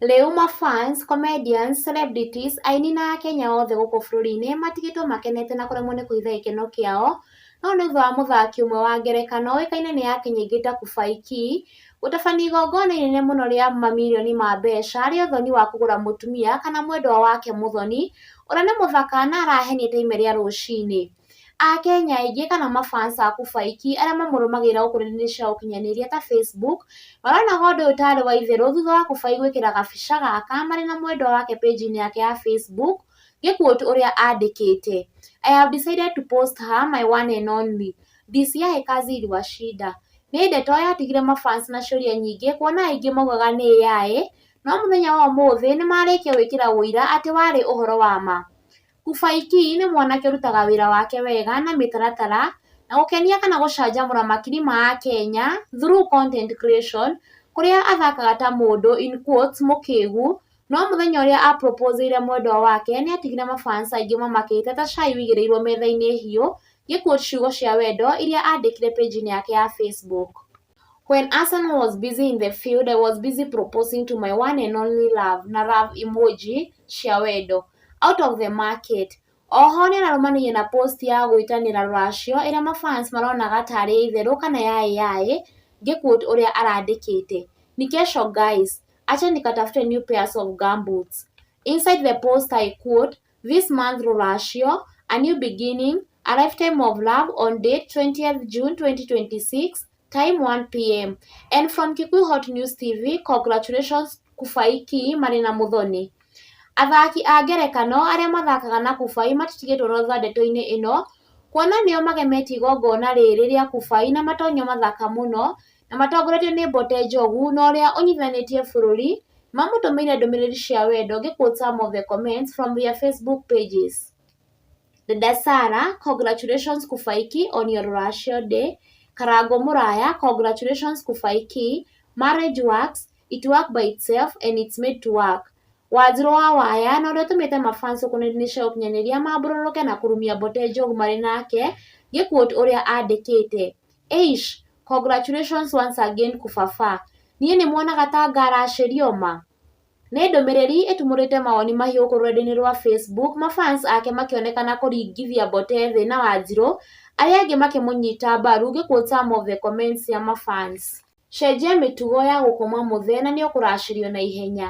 Rĩu ma fans, comedians, celebrities, aini na akenya othe gũkũ bũrũri-inĩ matigĩtwo makenete na kũremwo nĩ kũhitha gĩkeno kĩao no nĩ thutha wa mũthaki ũmwe wa ngerekano ũĩkaine nĩ yake nyingĩ ta Kubai Kee gũtabania igongona inene mũno rĩa mamirioni ma mbeca rĩa ũthoni wa kũgũra mũtumia kana mwendwa wake mũthoni ũrĩa nĩ mũthaka na arahenia ta ime rĩa rũcinĩ. Akenya aingĩ kana ma fans a Kubaiki arĩa mamũrũmagĩrĩra gũkũ nenda-inĩ cia ũkinyanĩria ta Facebook, maronaga ũndũ ũyũ tarĩ wa itherũ thutha wa Kubai gwĩkĩra gabica gaka marĩ na mwendwa wake page-inĩ yake ya Facebook, ngĩ quote ũrĩa andĩkĩte, I have decided to post her, my one and only, this year he kazi iliwashinda. Nĩ ndeto yatigire ma fans na ciũria nyingĩ kuona aingĩ maugaga nĩ AI, no mũthenya wa ũmũthĩ nĩ marĩkia gwĩkĩra ũira atĩ warĩ ũhoro wa ma. Kubaiki nĩ mwanake ũrutaga wĩra wake wega na mĩtaratara, na gũkenia kana gũcanjamũra makiri ma akenya through content creation kũrĩa athakaga ta mũndũ in quotes mũkĩgu, no mũthenya ũrĩa a propose ĩire mwendwa wake nĩ atigire ma fans aingĩ mamakĩte ta cai wĩigĩrĩirwo metha-inĩ hiũ gĩ quote ciugo cia wendo iria andĩkire page-inĩ yake ya Facebook. When Arsenal was busy in the field, I was busy proposing to my one and only love na love emoji cia wendo out of the market. Oho nĩ ararũmanĩire na post ya gwĩtanĩra rũracio ĩrĩa mafans maronaga tarĩ ya itherũ kana ya AI ngĩ quote ũrĩa arandĩkĩte, Ni kesho guys, acheni nikatafute new pairs of gumboots. Inside the post I quote, This month rũracio, a new beginning, a lifetime of love on date 20th June 2026 time 1pm and from Kikuyu Hot News TV congratulations Kubai Kii marĩ na Muthoni. Athaki a ngerekano arĩa mathakaga na Kubai matitigĩtwo na thutha ndeto-inĩ ĩno kuona nĩo magemetie igongona rĩrĩ rĩa Kubai na matonyo mathaka mũno na matongoretio nĩ Mbote Njogu na ũrĩa ũnyitithanĩtie bũrũri, mamũtũmĩire ndũmĩrĩri cia wendo ngĩ quote some of the comments from their Facebook pages. Dada Sarah, congratulations Kufaiki on your rũracio day. Karangũ Mũraya, congratulations Kufaiki. Marriage works, it work by itself and it's made to work. Wanjirũ wa Waya na ũrĩa ũtũmĩte ma fans gũkũ nenda-inĩ cia ũkinyanĩria mambũrũrũke na kũrumia Mbote Njogu marĩ nake ngĩ quote ũrĩa andĩkĩte. Eish! Congratulations once again kũbaba. Niĩ nĩ muonaga ta ngaracĩrio ma? Nĩ ndũmĩrĩri ĩtumũrĩte mawoni mahiũ gũkũ rũrenda-inĩ rwa Facebook, ma fans ake makĩonekana kũringithia Mboteve na Wanjirũ, arĩa angĩ makĩmũnyita mbaru ngĩ quote some of the comments cia ma fans. Cenjia mĩtugo ya gũkoma mũthee na nĩũkũracĩrio na ihenya.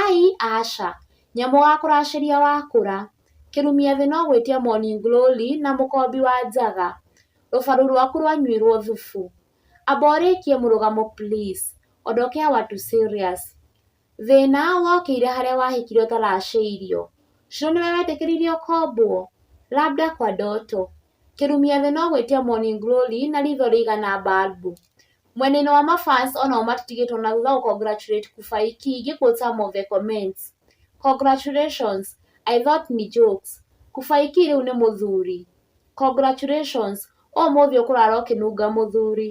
Ai, Aca! Nyamũ wa kũracĩria wakũra. Kĩrumia thĩ no gwĩtia morning glory na mũkombi wa njaga. Rũbaru rwaku rwanyuĩrwo thubu. Amba ũrĩkie mũrũgamo please. Ondokea watu serious. Thĩna wokĩire harĩa wahĩkire ũtaracĩirio. Shiro nĩwe wetĩkĩririe ũkombwo? Labda kwa ndoto. Kĩrumia thĩ no gwĩtia morning glory na ritho rĩigana balbu. Mwena-inĩ wa ma fans o nao matitigĩtwo na thutha gũ congratulate Kubai Kee ngĩ quote some of the comments, Congratulations, I thought ni jokes, Kubai Kee rĩu nĩ mũthuri, Congratulations, ũmũthĩ ũkũrara ũkĩnunga mũthuri,